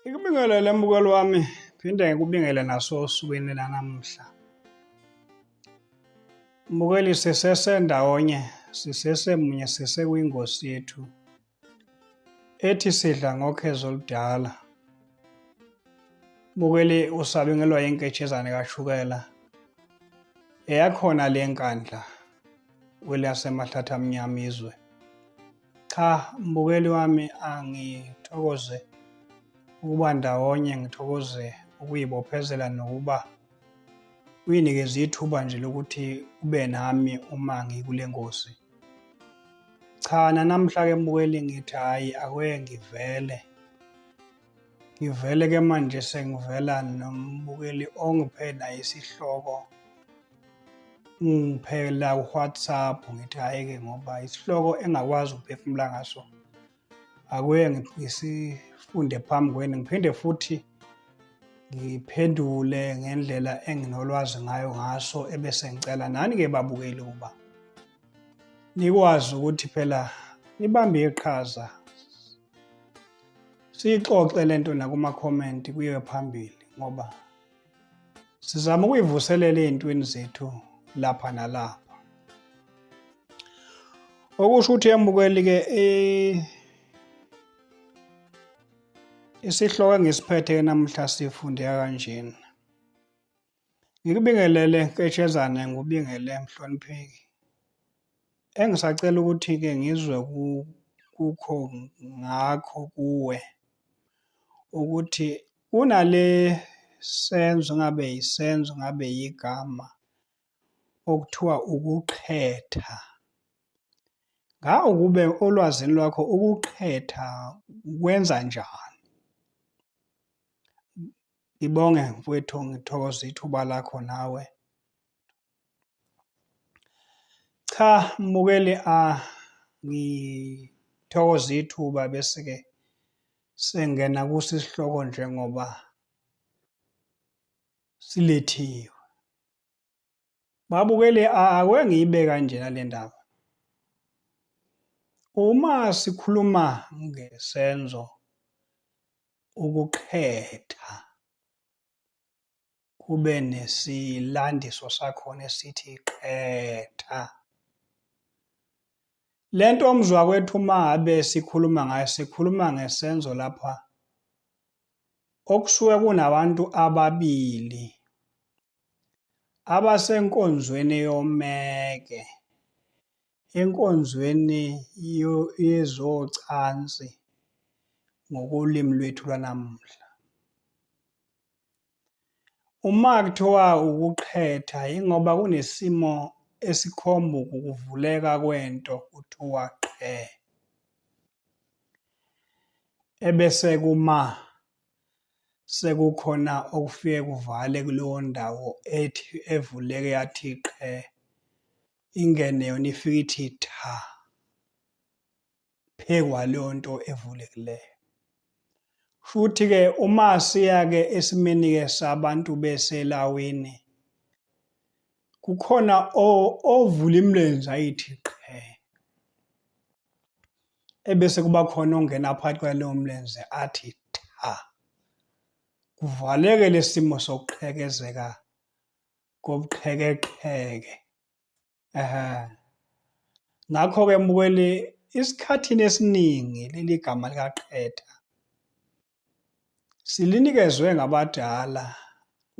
Ngikubingelele mbukeli wami phinde ngikubingele naso osukwini lanamuhla. Mbukeli sisesendawonye sisesemunye sisekwingosi yethu ethi sidla ngokhezo oludala. Mbukeli usabingelwa yinketshezane kashukela eyakhona le nkandla kweliyasemahlathi amnyama izwe. Cha mbukeli wami angithokoze ukuba ndawonye ngithokoze ukuyibophezela nokuba uyinikeze ithuba nje lokuthi ube nami uma ngikule ngozi. Cha nanamhla-ke mbukeli ngithi hhayi akuye ngivele. Ngivele-ke manje sengivela nombukeli ongiphe naye isihloko ngiphela uWhatsApp ngithi hhayi-ke ngoba isihloko engakwazi ukuphefumula ngaso akuye ngisifunde phambi kwenu ngiphinde futhi ngiphendule ngendlela enginolwazi ngayo ngaso ebese ngicela nani-ke babukeli ukuba nikwazi ukuthi phela nibambe iqhaza siyixoxe le nto nakuma-comment kuyiwe phambili ngoba Sizama ukuyivuselela ezintweni zethu lapha nalapha. Okusho ukuthi yambukeli ke eh, isihloko engisiphethe namhla sifundeka kanjena. Ngikubingelele Nketshezane ngubingele mhlonipheki. Engisacela ukuthi ke ngizwe kukho ngakho kuwe ukuthi Kunale senzo ngabe yisenzo ngabe yigama okuthiwa ukuqhetha. Nga ukube olwazini lwakho ukuqhetha kwenza njani? Ngibonge mfowethu ngithokoza ithuba lakho nawe. cha mbukeli a ah, ngithokoza ithuba bese-ke sengena kuso isihloko njengoba silethiwe babukeli a ah, ake ngiyibe kanjena le ndaba uma sikhuluma ngesenzo ukuqhetha kube nesilandiso sakhona esithi qetha. Le nto omzwa kwethu uma ngabe sikhuluma ngayo sikhuluma ngesenzo lapha okusuke kunabantu ababili abasenkonzweni yomeke Enkonzweni yezocansi ngokolimi lwethu lwanamuhla. Uma kuthiwa ukuqhetha ingoba kunesimo esikhomba ukuvuleka kwento kuthiwa qhe. Ebese kuma sekukhona okufike kuvale kuleyo ndawo ethi evuleke yathi qhe ingene yona ifike ithi tha phekwa leyo nto evulekileyo futhi ke uma siya ke esimeni ke sabantu beselawini kukhona ovula imilenze ayithi qhe ebese kuba khona ongena phakathi kwaleyo mlenze athi tha kuvaleke lesimo sokuqhekezeka kobuqhekeqheke. Ehhe. Ngakho-ke mbukeli, esikhathini esiningi leli gama likaqeda silinikezwe ngabadala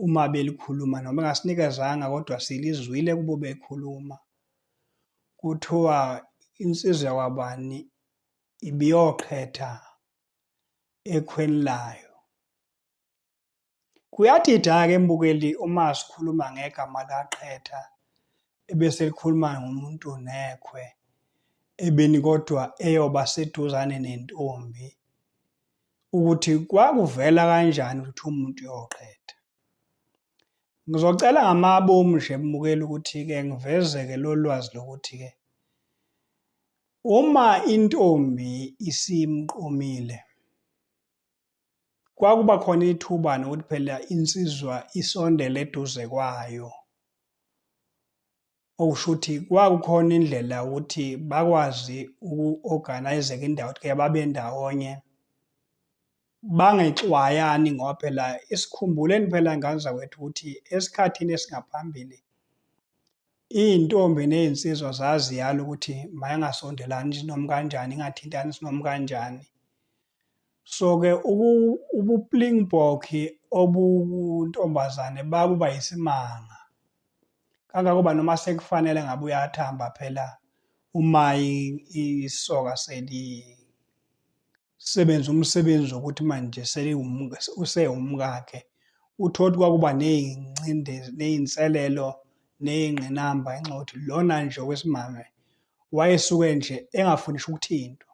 uma belikhuluma noma engasinikezanga kodwa silizwile kubo bekhuluma kuthiwa insizwa yakwabani ibiyoqhetha ekhweni layo Kuyadida ke mbukeli uma sikhuluma ngegama kaQhetha ebese likhuluma ngomuntu nekhwe ebeni kodwa eyoba seduzane nentombi ukuthi kwakuvela kanjani ukuthi umuntu yoqhetha. Ngizocela ngamabomu nje mbukeli ukuthi ke ngivezeke lolwazi lokuthi ke uma intombi isimqomile kwakuba khona ithuba nokuthi phela insizwa isondele eduze kwayo okusho ukuthi kwakukhona indlela ukuthi bakwazi uku-organize-ke indawo ukuthi ke babe ndawonye bangexwayani ngoba phela isikhumbuleni phela ngane zakwethu ukuthi esikhathini esingaphambili iy'ntombi ney'nsizwa zaziyala ukuthi mayangasondelani noma kanjani ingathintani sinoma kanjani So-ke ubuplingbock obuntombazane bakuba yisimanga kangangoba noma sekufanele ngabe uyathamba phela uma isoka seli sebenza umsebenzi wokuthi manje usewumkakhe uthole ukuthi kwakuba ney'ngcindezi ney'nselelo ney'ngqinamba ngenxa yokuthi lona nje wesimame wayesuke nje engafuni ukuthintwa.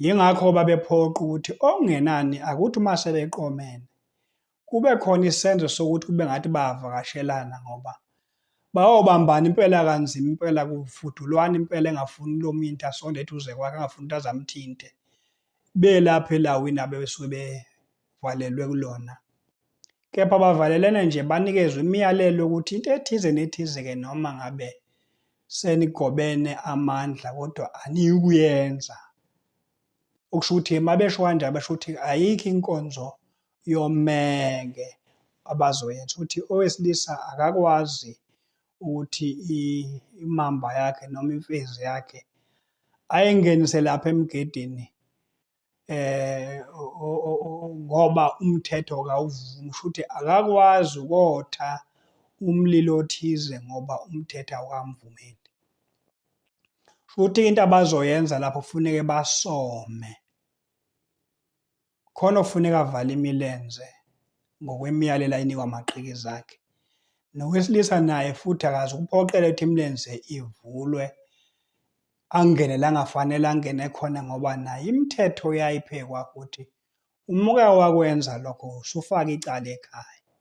Yingakho babephoqa ukuthi okungenani akuthi uma sebeqomene kube khona isenzo sokuthi kube ngathi bayavakashelana ngoba bayobambana impela kanzima impela kufudulwana impela engafuni lo mintu asonde eduze kwakhe angafuni ukuthi azamthinte belapha elawini abebesuke bevalelwe kulona Kepha bavalelene nje banikezwe imiyalelo yokuthi into ethize nethize-ke noma ngabe senigobene amandla kodwa aniyukuyenza. Okusho ukuthi uma besho kanjalo basho ukuthi ayikho inkonzo yomeke abazoyenza ukuthi owesilisa akakwazi ukuthi imamba yakhe noma imfezi yakhe ayingenise lapha emgedini eh ngoba umthetho kawuvumi futhi akakwazi ukotha umlilo othize ngoba umthetho awamvumeli futhi into abazoyenza lapho kufuneke basome khona ofuneka avale imilenze ngokwemiyalelo ayinikwa amaqhiki zakhe nowesilisa naye futhi akazi ukuphoqela ukuthi imilenze ivulwe angene la ngafanele angene khona ngoba naye imithetho uyayiphekwa ukuthi uma uke wakwenza lokho usufaka icala ekhaya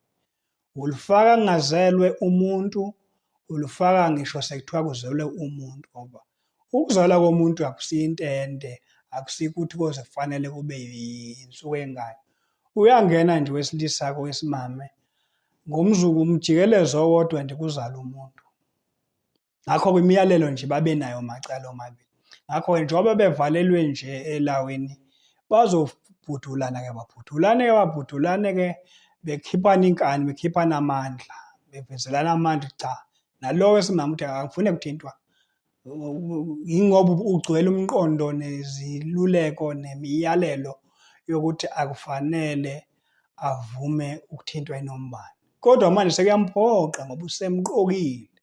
ulifaka kungazelwe umuntu ulifaka ngisho sekuthiwa kuzelwe umuntu ngoba ukuzalwa komuntu akusiyo into ende akusiko ukuthi koze kufanele kube yinsuku engaki uyangena nje wesilisa kowesimame ngomzuku umjikelezo owodwa nje kuzala umuntu ngakho kwimiyalelo nje babenayo macala omabili ngakho njengoba bevalelwe nje elawini bazobhudulana ke babhudulane ke babhudulane ke bekhiphana inkani bekhiphana amandla bevezelana amandla cha nalowo esimama ukuthi akafune kuthintwa yingoba ugcwele umqondo neziluleko nemiyalelo yokuthi akufanele avume ukuthintwa inombani kodwa manje sekuyamphoqa ngoba usemqokile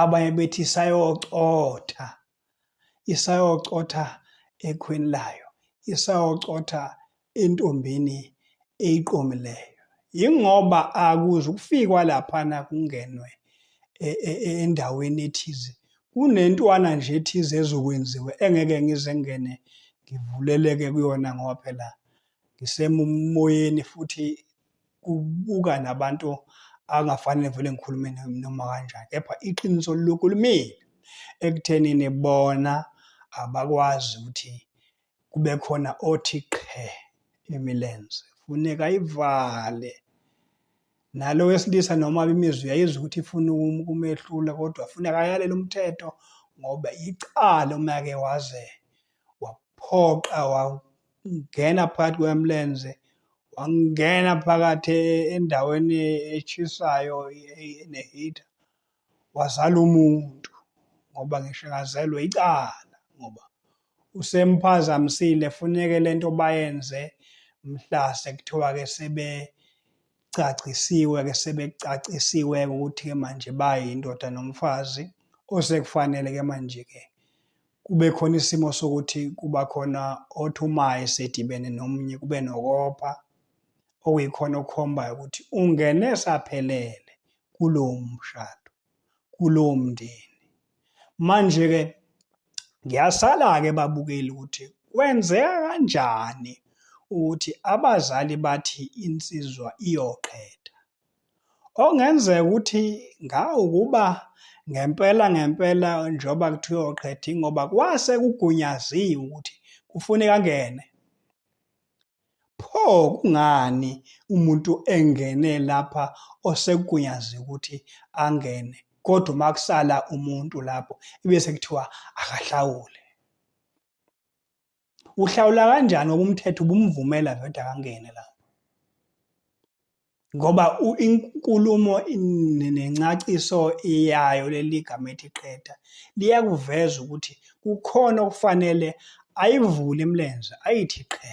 abanye bethi isayocotha isayocotha ekhweni layo isayocotha entombini eyiqomileyo yingoba akuze ukufikwa laphana kungenwe e, e, e, endaweni ethize kunentwana nje ethize ezokwenziwa engeke ngize ngene ngivuleleke kuyona ngoba phela ngisemoyeni futhi kubuka nabantu angafanele vele ngikhulume noma kanjani kepha iqiniso lokhu limile ekuthenini bona abakwazi ukuthi kube khona othi qhe imilenze funeka ivale nalo wesilisa noma imizwi yayizwa ukuthi ifuna ukumehlula kodwa funeka ayalele umthetho ngoba icala uma ke waze waphoqa wangena phakathi kwemlenze wangena phakathi e-, endaweni eshisayo enehita wazala umuntu ngoba ngisho engazelwe icala ngoba usemphazamisile funeke lento bayenze mhla sekuthiwa ke sebe cacisiwe ke sebecacisiwe ukuthi ke manje bayindoda nomfazi osekufanele ke manje ke kube khona isimo sokuthi kuba khona othi uma esedibene nomunye kube nokopa okuyikhona okukhombayo ukuthi ungene saphelele kulowo mshado kulowo mndeni manje-ke ngiyasala-ke babukeli ukuthi kwenzeka kanjani ukuthi abazali bathi insizwa iyoqeda Okungenzeka ukuthi ngawukuba ngempela ngempela njengoba kuthiwa uqhedi ngoba kwase kugunyaziwe ukuthi kufuneka angene. Pho kungani umuntu engene lapha osekugunyaziwe ukuthi angene kodwa uma kusala umuntu lapho ibese kuthiwa akahlawule. uhlawula kanjani ngoba umthetho ubumvumela veda kangene la ngoba inkulumo nencaciso iyayo leli gama ethi qeda liyakuveza ukuthi kukhona okufanele ayivule imilenze ayithi qhe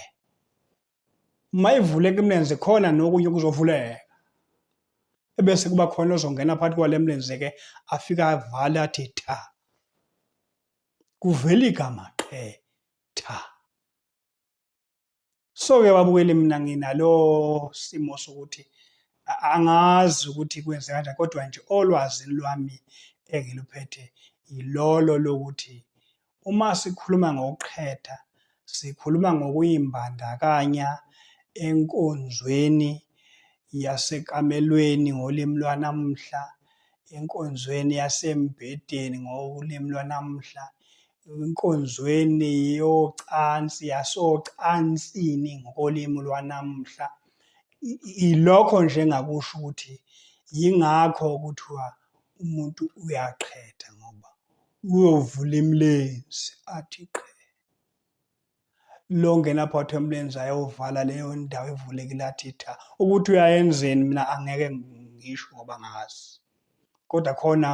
uma ivuleka imilenze khona nokunye kuzovuleka ebese kuba khona ozongena phakathi kwale mlenze ke afika avale athi tha kuvela igama qhe tha so-ke babukeli mina nginalo simo sokuthi angazi ukuthi kwenze kanjani kodwa nje olwazini lwami engiluphethe yilolo lokuthi Uma sikhuluma ngokuqheda, sikhuluma ngokuyimbandakanya enkonzweni yasekamelweni ngolimi lwanamuhla, enkonzweni yasembhedeni ngolimi lwanamuhla, enkonzweni yocansi yasocansini ngokolimi lwanamuhla. Ilokho nje engakusho ukuthi yingakho kuthiwa umuntu uyaqheda ngoba Uyovula imilenzi athi qe. Lo ngena phakathi kwemilenzi ayovala leyo ndawo evulekile athi tha. Ukuthi uyayenzeni mina angeke ngisho ngoba ngazi. Kodwa khona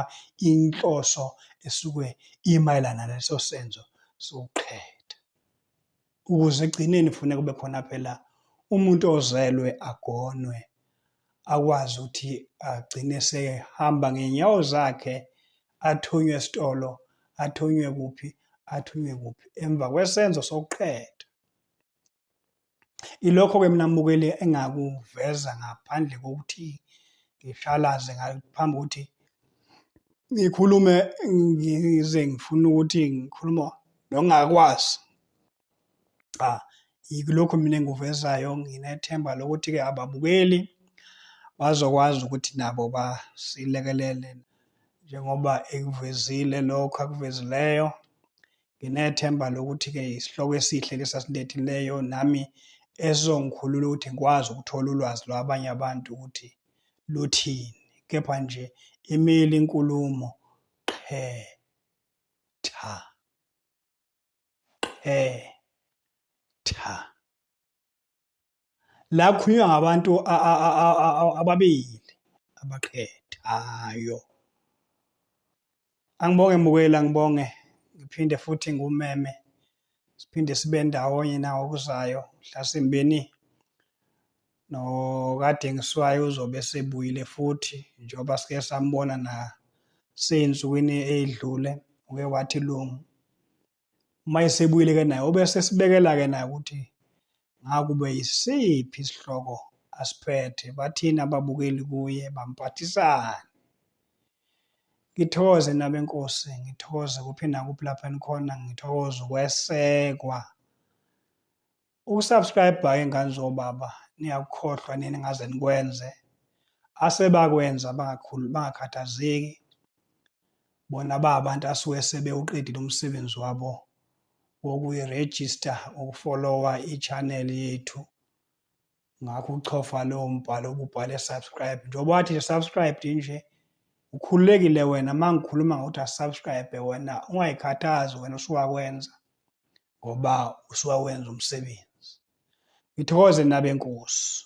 inhloso esuke imayelana leso senzo sokuqhetha. ukuze egcineni kufuneka kube khona phela umuntu ozelwe agonwe akwazi ukuthi agcine sehamba ngenyawo zakhe athunywe esitolo athunywe kuphi athunywe kuphi emva kwesenzo sokuqeda ilokho ke mina mbukeli engakuveza ngaphandle kokuthi ngishalaze ngaphambi ukuthi ngikhulume ngize ngifuna ukuthi ngikhuluma nongakwazi cha yikulokhu mina engikuvezayo nginethemba lokuthi-ke ababukeli bazokwazi ukuthi nabo basilekelele njengoba ekuvezile lokho akuvezileyo nginethemba lokuthi-ke isihloko esihle lesasilethileyo nami esizongikhulula ukuthi ngikwazi ukuthola ulwazi lwabanye abantu ukuthi luthini kepha nje imile inkulumo qhe tha qhe tha la khulunywa ngabantu ababili abaqhethayo angibonge mukela ngibonge ngiphinde futhi ngumeme siphinde sibe ndawonye nawo kuzayo mhlasimbeni nokaDengiswayo uzobe sebuyile futhi njengoba sike sambona na seyinsukwini eyidlule uke wathi lungu uma esebuyile ke naye ube sesibekela ke naye ukuthi ngakube yisiphi isihloko asiphethe bathini ababukeli kuye bampathisani ngithokoze nabenkosi ngithokoze kuphi nakuphi lapho enikhona ngithokoze ukwesekwa ukusubscribe ingane zobaba niyakukhohlwa nini ngaze nikwenze asebakwenza bangakhulu bangakhathazeki bona ba abantu asuke sebewuqedile umsebenzi wabo wokuyiregister ukufollowa i-channel yethu ngakho uchofa lowo mbhalo ububhale subscribe njengoba wathi subscribed nje ukhululekile wena uma ngikhuluma ngokuthi asubscribe wena ungayikhathazi wena usuwakwenza ngoba usuwawenza umsebenzi ngithokoze nabenkosi